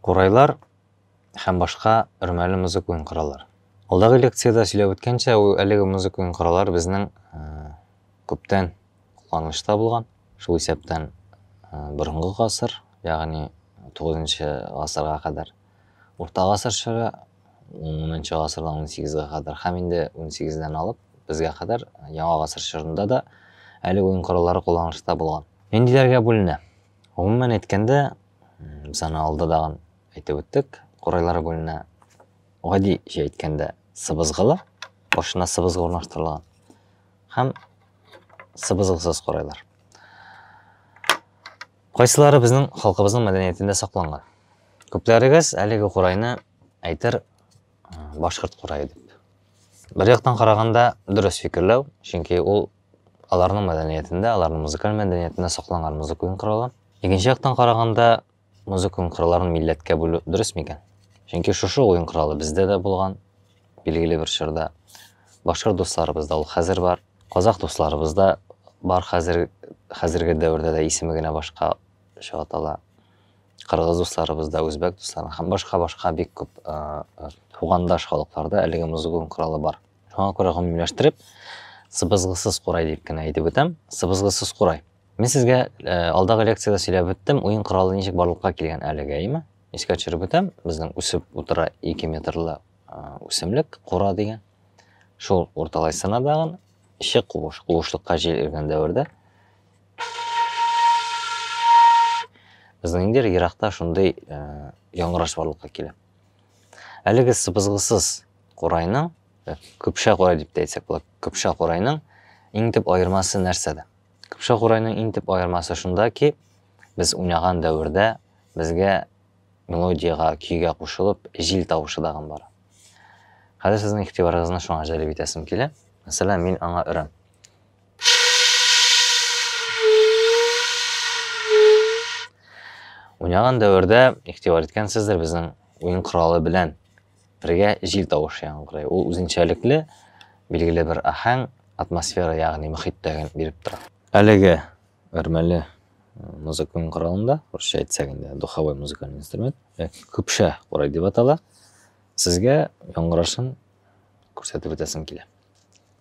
Курайлар һәм башка өрмәле музыка уен кораллар. Алдагы лекцияда сөйләп үткәнчә, әлеге музыка уен кораллар безнең э, күптән кулланылышта булган. Шул исәптән э, борынгы гасыр, ягъни 9 гасырга кадәр Урта гасыр чоры, унынчы гасырдан унсигезгә кадәр һәм инде унсигездән алып безгә кадәр яңа гасыр чорында да әлеге уен кораллары кулланылышта булган. Ниндиләргә бүленә? Гомумән әйткәндә, без аны алда дагын әйтеп үттек, корайлар бүленә гади җә әйткәндә сыбызгылы, башына сыбызгы урнаштырылган һәм сыбызгысыз корайлар. Кайсылары безнең халкыбызның мәдәниятендә сакланган? Күпләрегез әлеге курайны әйтер башкорт курае дип. Бер яктан караганда дөрес фикерләү, чөнки ул аларның мәдәниятендә, аларның музыкаль мәдәниятендә сакланган музыка уен коралы. Икенче яктан караганда, музыка уен коралларын милләткә бүлү дөрес микән? Чөнки шушы уен коралы бездә дә булган, билгеле бер чорда. Башкорт дусларыбызда ул хәзер бар, казах дусларыбызда бар хәзер хәзерге дәвердә дә исеме генә башка атала. кыргыз дусларыбызда, үзбәк дусларында һәм башка-башка бик күп тугандаш халыкларда әлеге музыкун коралы бар. Шуңа күрә гомумиләштереп, сыбызгысыз курай дип кенә әйтеп үтәм. Сыбызгысыз курай. Мин сезгә алдагы лекцияда сөйләп үттем, уен коралы ничек барлыкка килгән әлегә, име? Искә төшереп үтәм, безнең үсеп утыра 2 метрлы үсемлек, кура дигән. Шул урталай сынадагын, ишек куыш, куышлыкка җил иргән дәвердә Безнең инде еракта шундый э, яңгыраш барлыкка килә. Әлеге сыбызгысыз курайның, э, көпшә курай дип тә әйтсәк була, көпшә курайның иң төп аермасы нәрсәдә? Көпшә курайның иң төп аермасы шунда ки, без уйнаган дәвердә безгә мелодияга, көйгә кушылып, җил тавышы дагын бар. Хәзер сезнең игътибарыгызны шуңа җәлеп итәсем килә. Мәсәлән, мин аңа өрәм. Уйнаган дәвердә ихтибар иткәнсездер безнең уен коралы белән бергә җил тавышы яңгырый. Ул үзенчәлекле билгеле бер ахәң, атмосфера, ягъни мөхиттәген биреп тора. Әлеге өрмәле музыка уен коралында, русча әйтсәк инде, духовой музыкальный инструмент, яки көпшә курай дип атала, сезгә яңгырашын күрсәтеп үтәсем килә.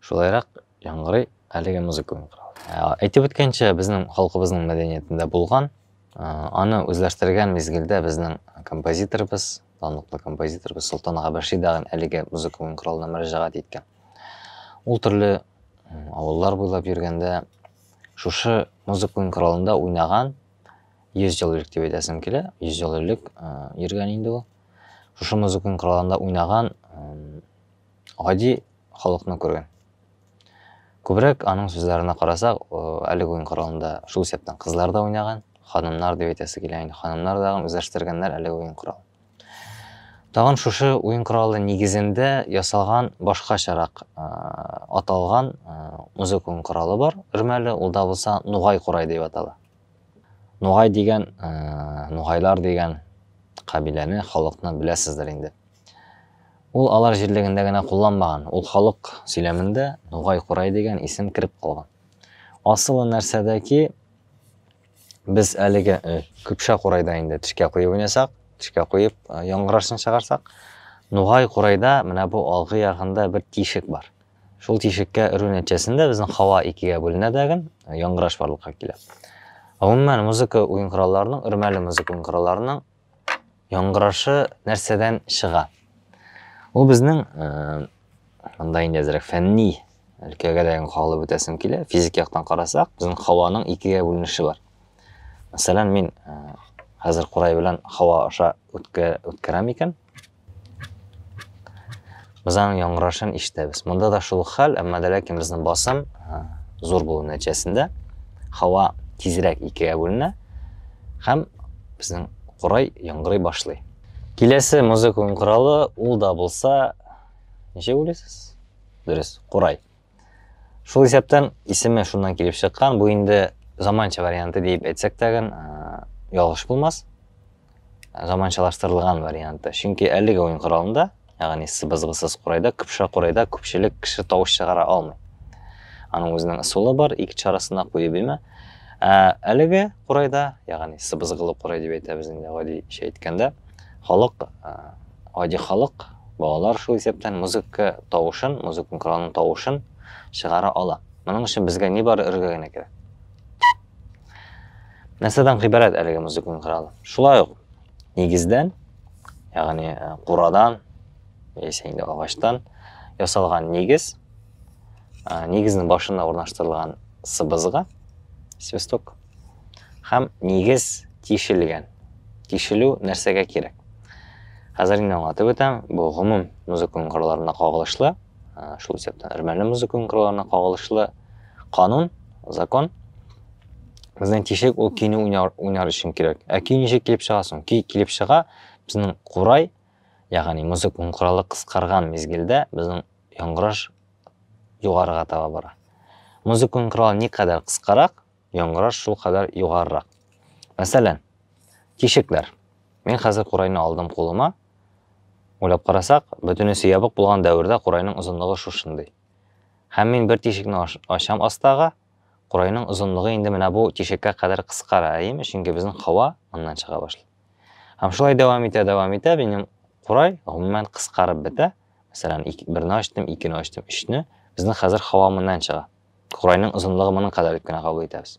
Шулайрак яңгырый әлеге музыка уен коралы. Ә, әйтеп үткәнчә, безнең халкыбызның мәдәниятендә булган, ә, аны үзләштергән мизгелдә безнең композиторыбыз, данлыклы композиторыбыз Солтан ага Бәши дәгән әлеге музыка уен коралына мөрәҗәгать иткән. Ул төрле авыллар буйлап йөргәндә шушы музыка уен коралында уйнаган 100 ел элек дип әйтәсем килә, 100 ел элек йөргән инде ул. Шушы музыка уен коралында уйнаган гади халыкны күргән. Күбрәк аның сүзләренә карасак, әлеге уен коралында шул исәптән кызлар да уйнаган, ханымнар дип әйтәсе килә инде, ханымнар да үзләштергәннәр әлеге уен коралын. Тагын шушы уен коралы нигезендә ясалган башкачарак аталган музыка уен коралы бар, өрмәле, ул да булса нугай курай дип атала. Нугай дигән, нугайлар дигән кабиләне, халыкны беләсездер инде. Ул алар җирлегендә генә кулланмаган, ул халык сөйләмендә Нугай-Курай дигән исем кереп калган. Асылы нәрсәдә ки, без әлеге Көпшә Курайда инде тешкә куеп уйнасак, тешкә куеп яңгырашын чыгарсак, Нугай-Курайда менә бу алгы ягында бер тишек бар. Шул тишеккә өрү нәтиҗәсендә безнең һава икегә бүленә дәген, яңгыраш барлыкка килә. Гомумән, музыка уен коралларының, өрмәле музыка уен коралларының Яңгырашы нәрсәдән чыга? Ул безнең монда инде әзрәк фәнни өлкәгә дә кагылып үтәсем килә. Физик яктан карасак, безнең һаваның икегә бүленеше бар. Мәсәлән, мин хәзер курай белән һава аша үткәрәм икән, Без аның яңгырашын ишетәбез. Монда да шул хәл, әмма дә ләкин безнең басым зур булу нәтиҗәсендә һава тизрәк икегә бүленә һәм безнең курай яңгырый башлый. Киләсе музыка уен коралы ул да булса, ничек уйлыйсыз? Дөрес, курай. Шул исәптән исеме шуннан килеп чыккан. Бу инде заманча варианты диеп әйтсәк тәген ялгыш булмас. Заманчалаштырылган варианты. Чөнки әлеге уен коралында, ягъни сыбызгысыз курайда, кыпша курайда күпчелек кеше тавыш чыгара алмый. Аның үзенең ысулы бар, ике чарасына куеп имә. Ә әлеге курайда, ягъни сыбызгылы курай дип әйтәбез инде гади әйткәндә, халык гади халык, балалар шул исәптән музыка тавышын, музыка коралының тавышын чыгара ала. Моның өчен безгә ни бары өрергә генә кирәк. Нәрсәдән гыйбарәт әлеге музыка коралы? Шулай ук нигездән, ягъни э, курадан яисә инде агачтан ясалган нигез, э, нигезнең башына урнаштырылган сыбызга, свисток, Һәм нигез тишелгән. Тишелү нәрсәгә кирәк? Хәзер инде аңлатып үтәм, бу гомум музыка кырларына кагылышлы, шул исәптән өрмәле музыка кырларына кагылышлы канун, закон. Безнең тишек ул көйне уйнар, уйнар өчен кирәк. Ә көй ничек килеп чыга соң? Көй килеп чыга, безнең курай, ягъни музыка куралы кыскарган мизгелдә безнең яңгыраш югарыга таба бара. Музыка куралы никадәр кыскарак, яңгыраш шулкадәр югарырак. Мәсәлән, тишекләр. Мин хәзер курайны алдым кулыма. Уйлап карасак, бөтенесе ябык булган дәвердә курайның озынлыгы шушындый. Һәм мин бер тишекне ачам астагы, курайның озынлыгы инде менә бу тишеккә кадәр кыскара, әйеме? Чөнки безнең һава моннан чыга башлый. Һәм шулай дәвам итә, дәвам итә, минем курай гомумән кыскарып бетә. Мәсәлән, берне ачтым, икене ачтым, өчне. Безнең хәзер һава моннан чыга. Курайның озынлыгы моның кадәр дип кенә кабул итәбез.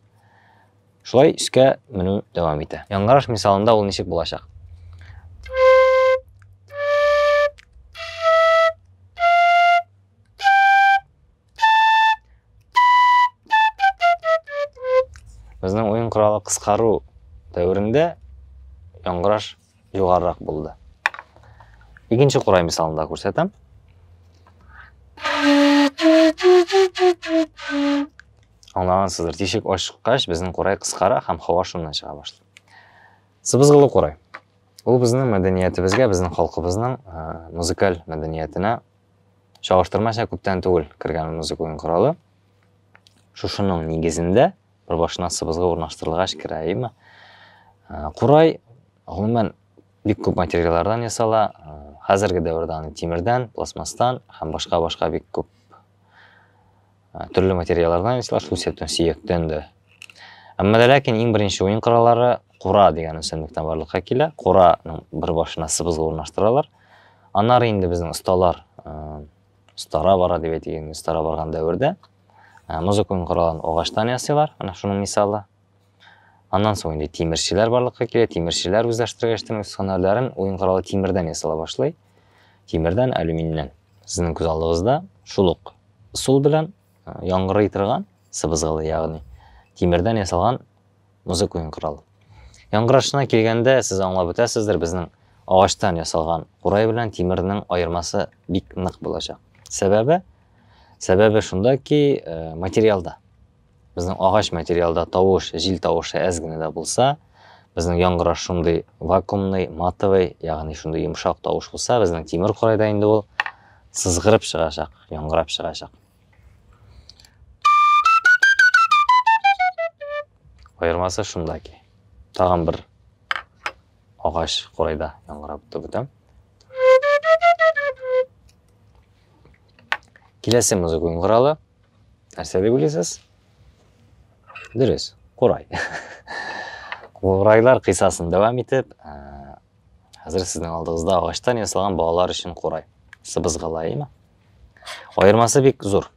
Шулай өскә менү дәвам итә. Яңгыраш мисалында ул ничек булачак? Безнең уен коралы кыскару дәверендә яңгыраш югарырак булды. Икенче курай мисалында күрсәтәм. Аңлагансыздыр, тишек ачкач безнең курай кыскара һәм һава шуннан чыга башлый. Сыбызгылы курай. Ул безнең мәдәниятебезгә, безнең халкыбызның э, музыкаль мәдәниятенә чагыштырмача күптән түгел кергән музыка уен коралы. Шушының нигезендә Бер башына сыбызгы урнаштырылгач керә, әйеме? Курай, гомумән, бик күп материаллардан ясала. Хәзерге дәвердә аны тимердән, пластмастан һәм башка-башка бик күп төрле материаллардан ясала, шул исәптән сөяктән дә. Әмма дә ләкин иң беренче уен кораллары кура дигән үсемлектән барлыкка килә. Кураның бер башына сыбызгы урнаштыралар. Аннары инде безнең осталар, остара бара дип әйтик, остара барган дәвердә Ә, музыка уен коралын агачтан ясыйлар, менә шуның мисалы. Аннан соң инде тимерчеләр барлыкка килә, тимерчеләр үзләштергәчтен үз һөнәрләрен уен коралы тимердән ясала башлый. Тимердән, алюминьнән. Сезнең күз алдыгызда шул ук сул белән яңгырый торган сыбызгылы, ягъни тимердән ясалган Музык уен коралы. Яңгырашына килгәндә, сез аңлап үтәсездер, безнең агачтан ясалган курай белән тимернең аермасы бик нык булачак. Сәбәбе? Сәбәбе шунда ки, э, материалда. Безнең агач материалда тавыш, җил тавышы әз генә дә булса, безнең яңгыраш шундый вакуумный, матовый, ягъни шундый йомшак тавыш булса, безнең тимер курайда инде ул сызгырып чыгачак, яңгырап чыгачак. Аермасы шунда ки. Тагын бер агач курайда яңгырап бетә. Киләсе музыка уен коралы. Нәрсә дип уйлыйсыз? Дөрес, курай. Курайлар кыйсасын дәвам итеп, Хәзер сезнең алдыгызда агачтан ясалган балалар өчен курай. Сыбызгылаймы? Аермасы бик зур.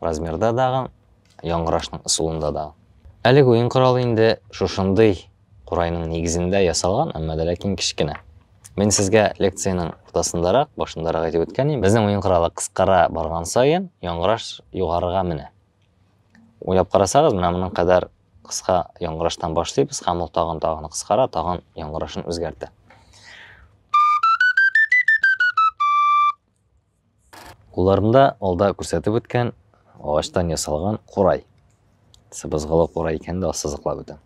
Размерда дагы, яңгырашның ысулында да. Әлеге уен коралы инде шушындый курайның нигезендә ясалган, әмма дә ләкин кечкенә. Мин сезгә лекциянең уртасындарак, башындарак әйтеп үткән идем. Безнең уен коралы кыскара барган саен, яңгыраш югарыга менә. Уйлап карасагыз, менә моның кадәр Кыска яңгыраштан башлыйбыз һәм ул тагын тагын кыскара, тагын яңгырашын үзгәртә. Кулларымда алда күрсәтеп үткән агачтан ясалган курай. Сыбызгылы курай икән дә сызыклап үтәм.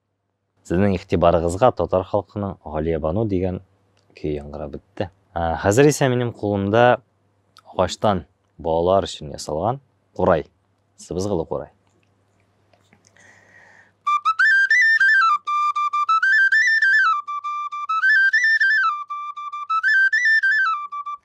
Сезнең игътибарыгызга татар халкының Галиябану дигән көе яңгырап үтте. Хәзер исә минем кулымда агачтан балалар өчен ясалган курай, сыбызгылы курай.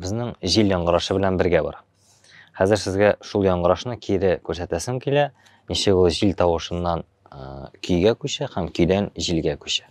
Безнең җил яңгырашы белән бергә бар. Хәзер сезгә шул яңгырашны кире күрсәтәсем килә, ничек ул җил тавышыннан көйгә күчә һәм көйдән җилгә күчә.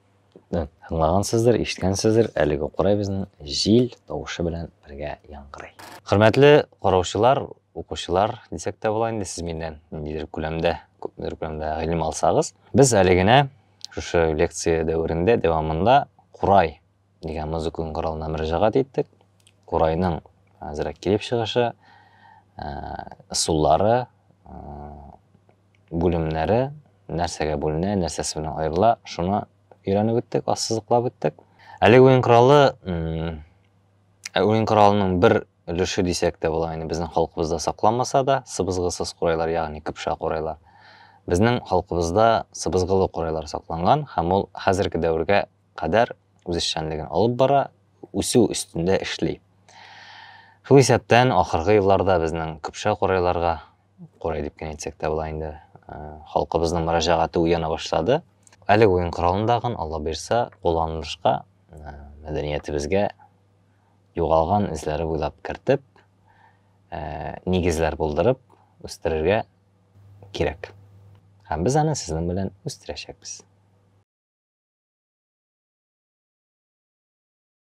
Тыңлагансыздыр, ишеткәнсездер, әлеге курай безнең җил тавышы белән бергә яңгырый. Хөрмәтле караучылар, укучылар дисәк тә була инде, сез миннән ниндидер күләмдә, күпмедер күләмдә гыйлем алсагыз, без әле генә шушы лекция дәверендә дәвамында курай дигән музыка коралына мөрәҗәгать иттек. Курайның әзрәк килеп чыгышы, ысуллары, бүлемнәре нәрсәгә бүленә, нәрсәсе белән аерыла, шуны өйрәнеп үттек, ассызыклап үттек. Әлеге уен коралы ә уен коралының бер өлеше дисәк тә була, инде безнең халкыбызда сакланмаса да, сыбызгысыз курайлар, ягъни кыпша курайлар. Безнең халкыбызда сыбызгылы курайлар сакланган һәм ул хәзерге дәвергә кадәр үз эшчәнлеген алып бара, үсү өстендә эшли. Шул исәптән ахыргы елларда безнең кыпша курайларга Курай дип кенә әйтсәк тә була инде. Э, халкыбызның мөрәҗәгате уяна башлады. Әлеге уен коралындагын Алла бирса, кулланылышка э, мәдәниятебезгә югалган эзләре буйлап кертеп, э, нигезләр булдырып үстерергә кирәк. Һәм без аны сезнең белән үстерәчәкбез.